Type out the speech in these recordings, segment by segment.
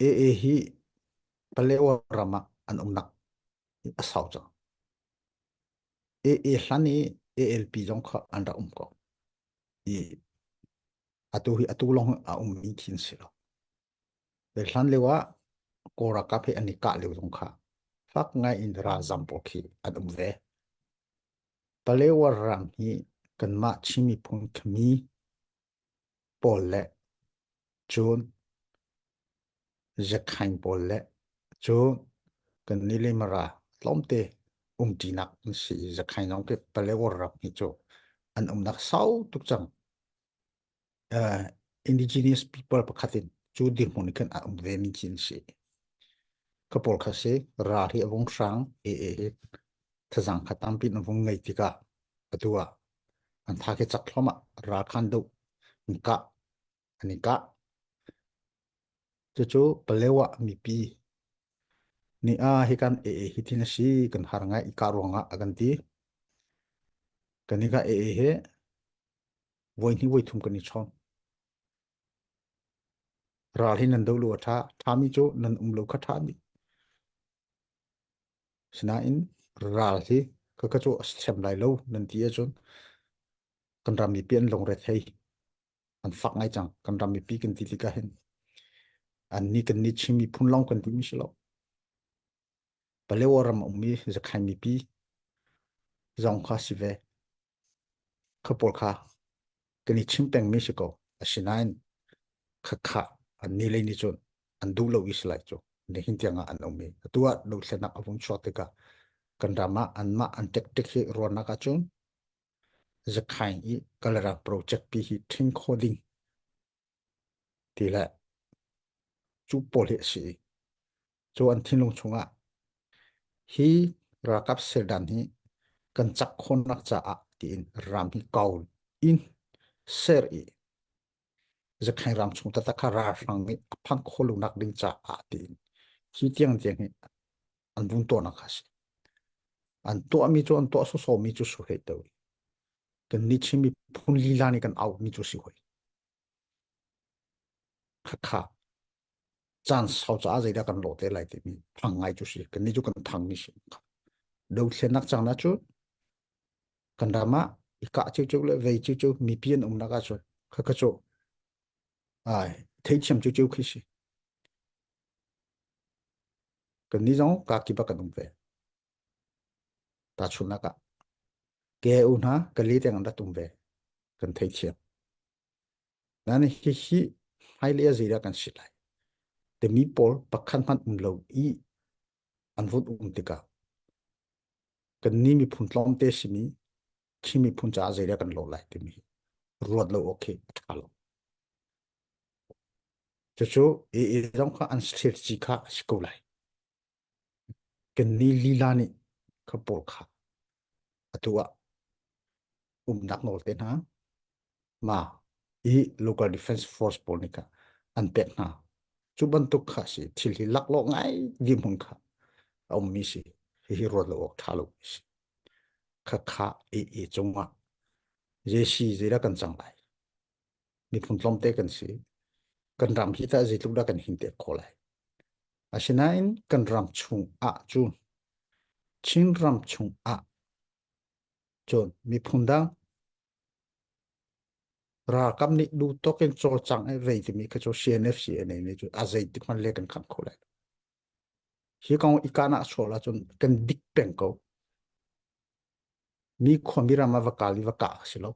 AA hi Palaewa ram ah an umnak a sau cang. AA hlan i ALP zong kha an rak um ko. I atu hi atu lawng a ummi khi si lo. Pe hlan leo ah Kora kap hi an i kah leo zong kha fak ngai in ralzam pawl khi an um ve. Palaewa rang hi kanmah Chin miphun kami pawl le cun zekhain pawl le cun kan ni le mara tlawmte umṭinak an si i zekhain zong ke paleor rap hi cu an umnak sau tuk cang. indigenous people pakhat in cu dirhmun i kan a um ve mi ci an si. Kapol kha si ra hi a vung hrang e e hi thazang kha tampin a vung ngei tika atua An tha khi cak thluam ah ralkhan duh an kah an i kah. Cucu Paleo ah mipi nih ah hi kan ee hi thin a si kan har ngai i kah ruang ah a kan ti. Kan i ka ee he voi hnih voi thum kan i chong. Ral hi nan do lu a tha. Thami cu nan um lo kha thami. Sinain ral hi ka ka cu sem lai lo nan ti ahcun kan ram mipi an lungre thei an fak ngai cang kan ram mipi kan ti tikah hin an ni kan ni Chin miphun lawng kan duhmi si lo Paleo ram a ummi Zakhain mipi zong kha si ve Kha pawl kha kan i chim pengmi si ko. Asinain khakha an ni le ni cun an duh lo is lai cu. Nihin tiang ah an um i atu ah lothlenak a vung chuak tikah kan ram ah anmah an tek-tek hi ruahnak ahcun zakhain i kalarak project pi hi ṭhing kho ding ti le cu pawl hi a si i cu an thinlung chungah hi ralkap seldan hi kan cak khawnak caah tiin ram hi kau in ser i zakheng ram chung taktak kha ralhrang nih a phanh khawh lo nak ding caah tiin hi tiang tiang hi an vun tuahnak a si an tuahmi cu an tuah sawsawmi cu su hei teo kan ni chim miphun lila nih kan aumi cu si hoi khakha caan sau ca zeidah kan lo te lai timi thang ngai cu si kan ni cu kan thang ni si do thlenak cang na cu kan rama ika cheu cheu le vei cheu cheu mipi an umnak a chun khakha cho ai thei chiam cheu cheu khi si kan ni zong ka ki bak kan um ve ta chun nak ah ke u hna ka li te ngan rat um ve kan thei chia nan hi hi hai le zei da kan sit lai te mi pol pakhat man um lo i an vut um tika kan ni mi phun tlom te simi khi mi phun cha zei da kan lo lai ti mi ruat lo okay tha lo Cucu i zong kha an thirci kha a si ko lai. Kan ni lila nih ka pawl kha atu ah umnak nawl te hna ma i local defense force pawl nih kha an pek hna. Cu bantuk kha a si thil hi laklawh ngai dirhmun kha a ummi si hihi ruat lo awk ṭha lo a si. Khakha i i cungah Jesi zira kan cang lai. miphun tlawmte kan si kan ram hi tah zeitluk dah kan hinte ko lai asinain kan ram chung ah cun Chin ram chung ah cun miphun dang ralkap nih duh tok in cawlcang e vei timi kha cu CNFC ne ne cu a zei tik hman le kan kham kho lai hi kong ikana sola cun kan dik peng ko mi khomi ram a va kal i va kah a si lo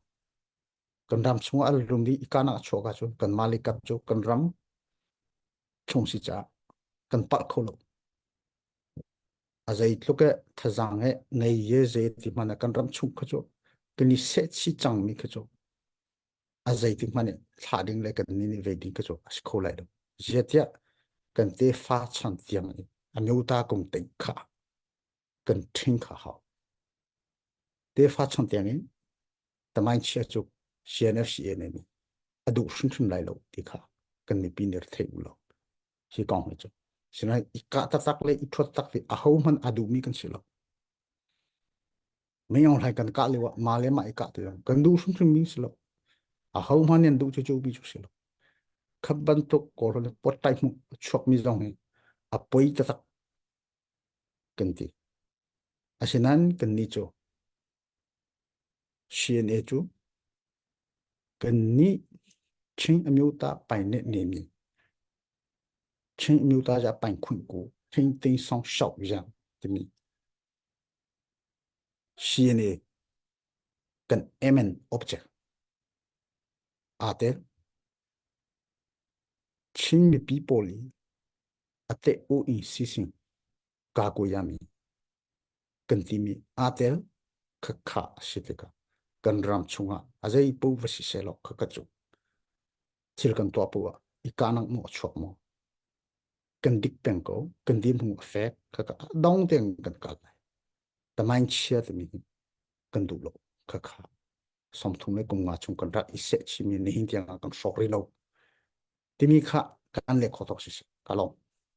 kan ram chungah al rum i kan ah chuak cu kan mali kap cu kan ram chung si cha kan palh kho lo a zei tluk e thazang e nei ye ze ti mana kan ram chung kha chu kan i se chi chang mi kha chu a zei ti mane thla ding le kan ni ni ve ding kha chu a kho lai lo zia tia kan te fa chan tiang a nyota kong te kha kan ṭhing kha hau. Tefa chon tiangin tangain chia cu CNFCA ne nih a duh hrimhrim lai lo ti kha kan mipi nih thei u lo. Hi kong hi cu. Sinain i kah taktak le i ṭhuat tak hi a ho hman a duhmi kan si lo. Meyong hlai kan kah leo ah ma le ma i kah tu kan duh hrimhrim mi si lo. A ho hman in duh cu cu bi cu si lo. Khat bantuk kor le pot tai mu chuak mi zong hi a poi tatak kan ti. Asinain kannih cu CNA cu kannih Chin amyota pai ne ne ni Chin amyota ja pai khuin ku Chin ting song shau yang timi CNA kan MN object ate Chin mipi pawl i a teh u i sising kakuyami kan timi aa tel khakha a si tikah kan ram chungah a zei pu va si se lo khakha cu thil kan tuah pu ah i kanak maw chuak maw kan dik peng ko kan dim hung a fek khakha dong tein kan kal lai tamain chia timi hi kan duh lo khakha sawmthum le kumnga chung kan rat i seh chimi ni hin tiang kan hrawk rih lo timi kha kan leh kho tok si si ka lawm